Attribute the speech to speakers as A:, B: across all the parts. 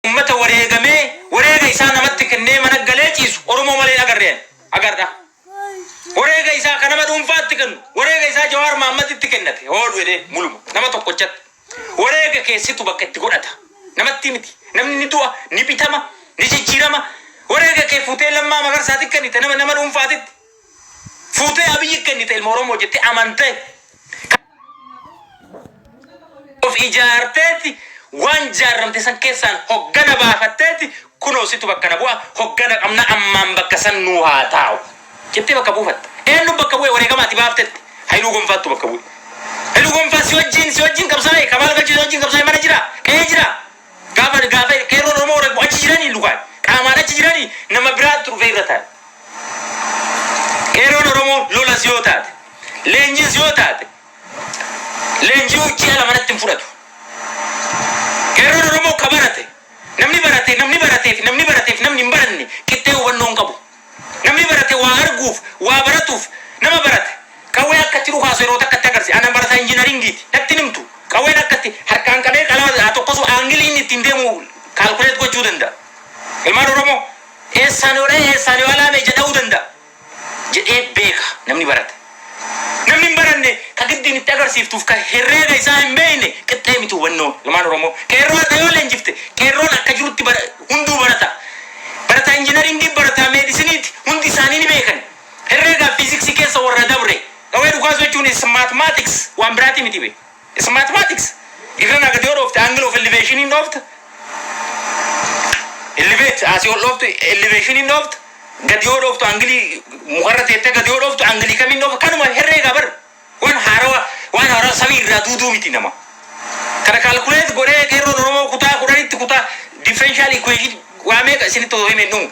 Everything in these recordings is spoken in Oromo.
A: Ummata wareegamee wareega isaa namatti kennee mana galee ciisu Oromoo malee hin agarre ani haga har'aa. Wareega isaa ka nama dhuunfaatti kennu, wareega isaa Jawaar Mahaammaditti kennate hoo jedhee muluma nama tokkochatti. Wareega kee situ bakka itti godhata. Namattii miti. Namni ni du'a, ni bitama, ni jijjiirama. Wareega kee fuutee Lammaa Magarsaatiif kennite nama nama dhuunfaatitti. Fuutee Abiyyi kennite ilma Oromoo jettee amantee kan of ijaarteeti waan jaarramte san keessaan hoggana baafatteeti kunoo situ bakka na bu'a hoggana qabna ammaan bakka san nuu haa taa'u jettee bakka buufatte. Eenyu bakka bu'e wareegama ati baaftetti Hayiluu Gonfaattu bakka bu'e. Hayiluu Gonfaa si wajjin si wajjin qabsaa'e Kamaal Galchuu si wajjin qabsaa'e mana jira qe'ee jira. Gaafa gaafa qeerroon Oromoo warra achi jiranii lukaan qaamaan achi jiranii nama biraattu dhufee irra taa'e. Qeerroon Oromoo lolas yoo taate, leenjiis yoo taate, leenji'uu ji'a lama natti hin fudhatu. Qeerroon Oromoo ka barate, namni barate, namni baratee fi namni baratee fi namni hin baranne qixxee hubannoo hin qabu. Namni barate waa arguuf, waa baratuuf, nama barate qawwee akka itti dhukaasu yeroo takka itti agarsiisa. Ana barataa injinariingiiti. Natti hin himtu. Qawween akka itti harkaan qabee qalama haa tokkosu, aangilii inni ittiin deemu calculate gochuu danda'a. Ilmaan Oromoo, eessaan yoo dha'e, eessaan yoo alaame ija dha'uu danda'a jedhee beeka namni barate. Namni hin baranne ka giddiin itti agarsiiftuuf ka herreega isaa hin beekne qixxee miti hubannoo. Ilmaan Oromoo Qeerroo har'a yoo leenjifte Qeerroon akka jirutti bara hunduu barataa. Barataa Injinariingii barataa Meedisiniiti hundi isaanii ni beekan. Herreegaa fi Fiiziksii keessa warra dabre. Qawwee dhukaasuu jechuun is mathematics waan biraatii miti bee. S Mathematics Dibna na gad yoo dhoofte angle of elevation in dhoofta Elevate asii ol dhooftu elevation in dhoofta Gad yoo dhooftu angle mukarra teettee gad yoo dhooftu angle kam in dhoofta kanuma herreega bar waan haarawa waan haarawa samii irraa duuduu miti nama kana calculate godhee qeerroon oromoo kutaa kudhanitti kutaa differential equation waa meeqa isinitti osoo hime hin dhumu.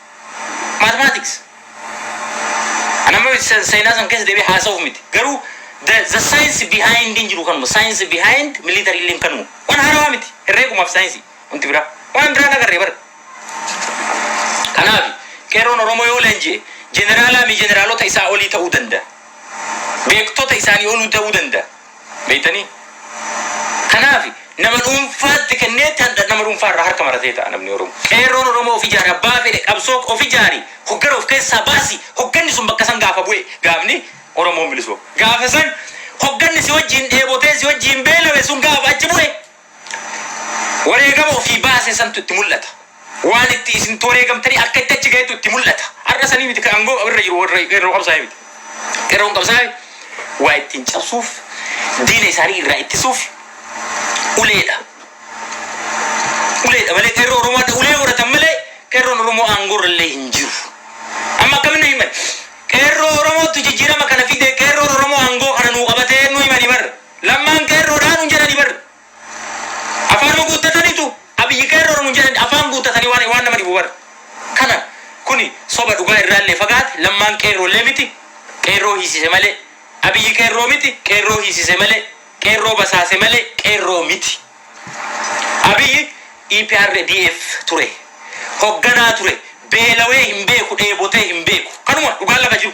A: Mathematics. Ani amma se- seenaa san keessa deebi'ee haasa'uuf miti. Garuu the, the science behind hin jiru kanuma. Science behind military illee kanuma. Waan haarawaa miti. Herreegumaaf saayinsii. Wanti biraa. Waan an biraan agarre bara. Kanaafi qeerroon Oromoo yoo leenji'e jeneraalaa mi jeneraalota isaa olii ta'uu danda'a. Beektota isaanii oluu ta'uu danda'a. Beektanii? Kanaaf nama dhuunfaatti kenneetti handha nama dhuunfaa irraa harka maratee ta'a namni Oromoo. Qeerroon Oromoo of ijaare abbaa fedhe qabsoo of ijaari hoggana of keessaa baasi hogganni sun bakka san gaafa bu'e gaafni Oromoon bilisoome gaafa san hogganni si wajjiin dheebotee si wajjiin beelawe sun gaafa achi bu'e Wareegama ofii baase santu itti mul'ata. Waan itti isintu wareegamtanii akka itti achi gahetu itti mul'ata. Har'a sanii miti kan angoo irra jiru warra qeerroo qabsaa'ee miti. Qeerroon qabsaa'e waa ittiin cabsuuf, diina isaanii irraa ittisuuf uleedha. Uleedha malee qeerroo Oromoo hadha ulee godhatan malee qeerroon Oromoo aangoo irra illee hin jiru. Amma akkamitti nu himan? Qeerroo Oromootu jijjiirama kana fide, qeerroon Oromoo aangoo kana nuu qabate nu himani bar. Lammaan qeerroo dhaa nuun jedhani bar afaanuma guuttatanitu Abiyyi qeerroodha nuun jedhani afaan guuttatani waan waan nama dhibu bar kana kuni soba dhugaa irraallee fagaate Lammaan qeerroollee miti qeerroo hiisise malee Abiyyi qeerroo miti qeerroo hiisise malee qeerroo basaase malee qeerroo miti Abiyyi EPRDF ture hogganaa ture beelawee hin beeku dheebotee hin beeku kanuma dhugaan lafa jiru.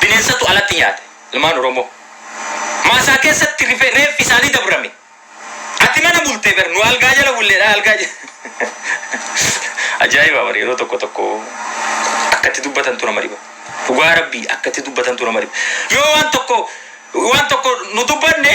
A: Bineensatu alatti nyaate ilmaan Oromoo. Maasaa keessatti rife reeffi isaanii dabrame. Ati mana bulte ber nu algaa jala bulleedha algaa Ajaa'iba bar yeroo tokko tokko akka itti dubbatantu nama dhiba. Dhugaa rabbii akka itti dubbatantu nama dhiba. Yoo waan tokko waan tokko nu dubbanne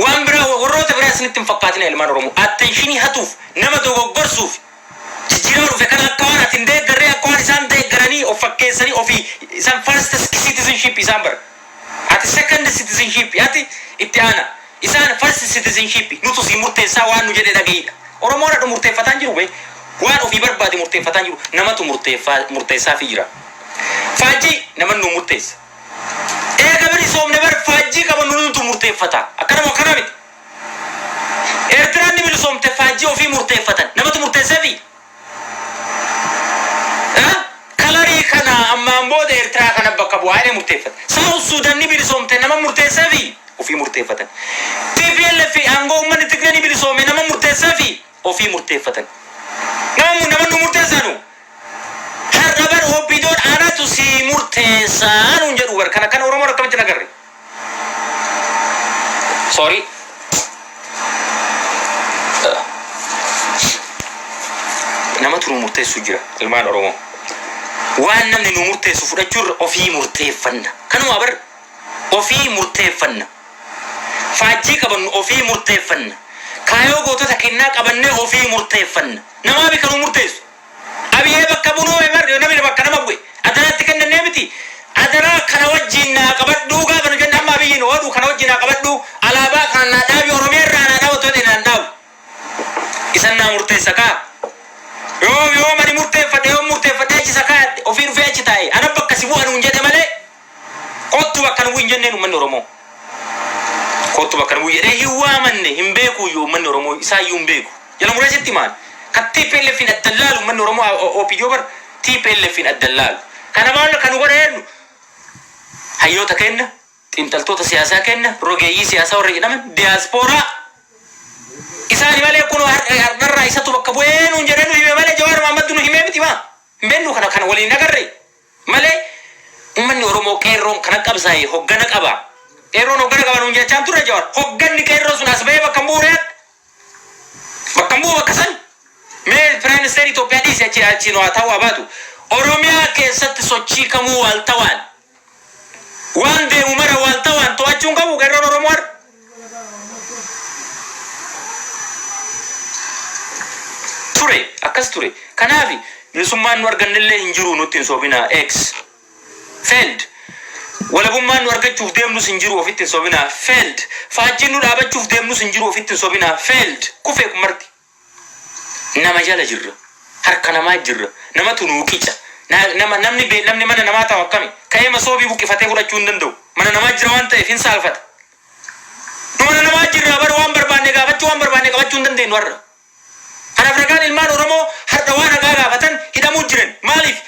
A: Waan biraa warroota biraa isinitti hin fakkaatina ilmaan Oromoo. Attentionii hatuuf, nama dogoggorsuuf, jijjiirama dhufe kana akka waan ati hin deeggarree akka waan isaan deeggaranii of fakkeessanii ofii isan first citizenship isaan bar ati second citizenship ati itti aana isaan first citizenship nutu sii murteessaa waan nu jedhe dhaga'iidha. Oromoon hadha murteeffataa hin jiru bee. Waan ofii barbaade murteeffataa hin jiru. Namatu murteessaa murteessaafii jira. Faajjii naman nuu murteessa. Eega bilisoomne bar faajjii qabannu nutu murteeffata. Akkana moo akkana miti? Eertiraan ni bilisoomte faajjii ofii murteeffatan. Namatu murteessefii? Haa? Kalarii kana ammaan booda Eertiraa kana bakka bu'aa jedhee murteeffate. South Sudan ni bilisoomte nama murteessefii? Ofii murteeffatan. Tplf fi aangoo uummanni Tigree ni bilisoome nama murteessefii? ofii murteeffatan. Maamu nama nu murteessaa nu? Har'a bar OPDOn anatu sii murteessa nuun jedhuu bar kan akkana Oromoon akkamitti hin agarre? Sorry. Namatu nu murteessu jira ilmaan Oromoo. Waan namni nu murteessu fudhachuu irra ofii murteeffanna. Kanuma bar. ofii murteeffanna. Faajjii qabannu ofii murteeffanna. Kaayoo gootota kennaa qabannee ofii murteeffanna. Namaafi kan nuu murteessu. Abiyee bakka bunuu emer namni bakka nama bu'e adaraatti kennannee miti. Adaraa kana wajjiin naa qabadhuu gaafa nu jenne amma Abiyyi nu oodhu kana wajjin naa qabadhuu alaabaa kana naa dhaabi Oromiyaa irraa naa dhaabi otoo jedhe naan dhaabu. Isan naa murteessa kaa. Yoo yoom ani murteeffadhe yoom murteeffadhee achi isa kaayadhe ofii dhufee achi taa'e ana bakka si bu'a nuun jedhe malee Kottu bakka nu bu'i hin jenneen ummanni Oromoo. Kottu bakka nu bu'i jedhee hin waamanne, hin beekuuyyuu ummanni Oromoo isaayyuu hin beeku. Jala muree sitti himaan. Kan TPLFn adda hin laalu ummanni Oromoo OPDO bar TPLFn adda hin laalu. Kana maal kan nu godhe eenyu? Hayyoota keenna, xiinxaltoota siyaasaa keenna, rogeeyyii siyaasaa warra jedhaman, diyaaspooraa. Isaani malee kunoo har- hardharraa isatu bakka bu'ee nuun jedhee nu hime malee Jawaar Mahammadtu nu himee miti maa? Hin beennuu kana kana waliin hin agarree? malee ummanni oromoo qeerroon kan qabsaa'e hoggana qaba qeerroon hoggana qaba nuun jechaan turre jawar hogganni qeerroo sun as ba'ee bakka hin bu'u ree adda bakka hin bu'u bakka san mee prime minister Itoophiyaa dhiisi achi achi nu haa ta'u haa baatu oromiyaa keessatti sochii kamuu waaltawaan waan deemu mara waaltawaan to'achuun qabu qeerroon oromoo har'a ture akkas ture kanaafi bilisummaan nu argannellee hin jiru nutti hin sobinaa X failed walabummaan nu argachuuf deemnus hin jiru ofitti hin sobinaa failed faajjiin nu dhaabachuuf deemnus hin jiru ofitti hin sobinaa failed kufee kun marti Nama jala jirra. Harka namaa jirra. Namatu nuu qica. Na, nama, namni be, namni mana namaa taa'u akkami? Ka'ee masoobii buqqifatee fudhachuu hin danda'u. Mana namaa jira waan ta'eef hin saalfata. Nu mana namaa jirraa bar waan barbaanne gaafachuu, waan barbaanne qabachuu hin dandeennu har'a. Kanaaf ragaan ilmaan Oromoo har'a waan haqaa gaafatan hidhamuu jiran. Maaliif?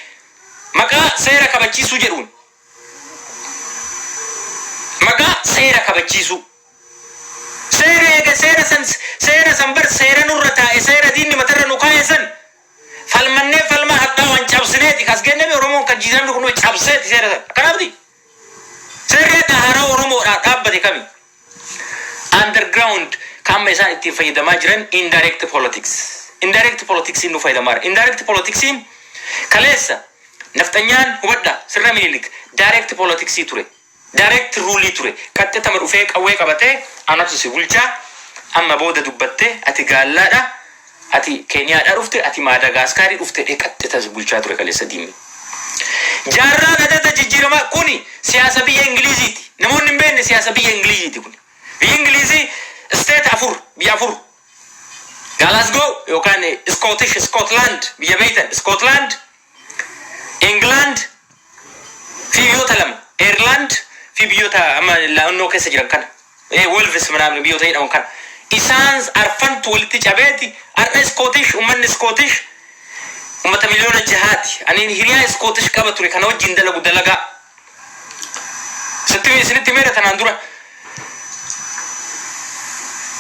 A: Maqaa seera kabachiisuu jedhuun. Maqaa seera kabachiisuu. Seera eega seera san seera san bar seera nurra taa'e seera diinni matarra nu kaa'e san falmannee falmaa hadhaawaan cabsineeti kas geenne mii Oromoon kan jiiramni kun cabseeti seera san akkanaamiti? Seerri hadha haarawa Oromoodhaaf dhaabbate kami? Underground ka amma isaan ittiin fayyadamaa jiran indirect politics. Indirect politics nu fayyadamaara. Indirect politics kaleessa nafxanyaan hubadha sirna minilik direct politics ture. Direct rule ture. Qaxxitama dhufee qawwee qabatee anatu si bulchaa amma booda dubbatte ati gaallaadha. Ati keniyaadha dhufte ati maadagaaskaarii dhufte dhee xaxxe tan si bulchaa ture kaleessa diinni. Jaarraan adada jijjiiramaa kuni siyaasa biyya ingiliiziiti namoonni hin beekne siyaasa biyya ingiliiziiti kuni biyyi ingiliizii state afur biyya afur Glasgow yookaan Scottish Scotland biyya beektan Scotland England fi biyyoota lama Ireland fi biyyoota amma naannoo keessa jiran kana eh, Wolves manaamni biyyoota jedhaman kana isaan arfantu walitti cabeeti har'a Iskootish ummanni Iskootish ummata miliyoona jahaati ani hiriyaa Iskootish qaba ture kana wajjin dalagu dalagaa Sitti- isinitti meera tanaan dura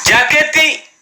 A: jaakeetti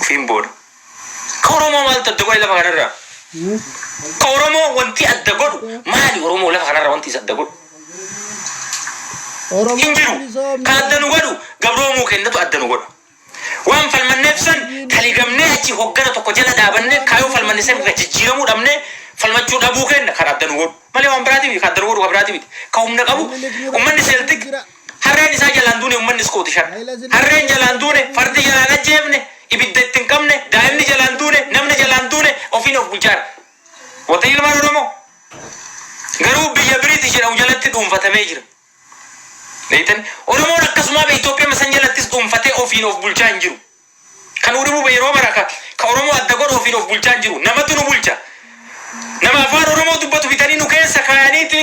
A: Ofiin booda. Ka Oromoo maaltu adda godhe lafa kanarraa? Ka Oromoo wanti adda godhu maali? Oromoo lafa kanarraa wanti isa adda godhu. Hin jiru. Ka adda nu godhu gabroomuu kennatu adda nu godha. Waan falmanneef san taligamnee achi hoggana tokko jala dhaabannee kaayoo falmanne san irra jijjiiramuu dhabnee falmachuu dhabuu kenna kan adda nu godhu. Malee waan biraati miti. Ka adda nu godhu ka biraati miti. Ka humna qabu ummanni Seeltik Harreen isaa jalaan duune ummanni Iskootish har'a. Harreen jalaan duune, fardi jalaan ajjeefne, ibidda itti hin qabne, daa'imni jalaan duune, namni jalaan duune ofiin of bulchaa har'a. Wota'e ilmaan Oromoo garuu biyya Biritish jedhamu jalatti dhuunfatamee jira. Beektanii? Oromoon akkasumaa bee Itoophiya san jalattis dhuunfatee ofiin of bulchaa hin jiru. Kan nu dhibu bee yeroo mara ka, ka Oromoo adda godhu ofiin of bulchaa hin jiru. Namatu nu bulcha. Nama afaan Oromoo dubbatu bitanii nu keessa kaayaniiti.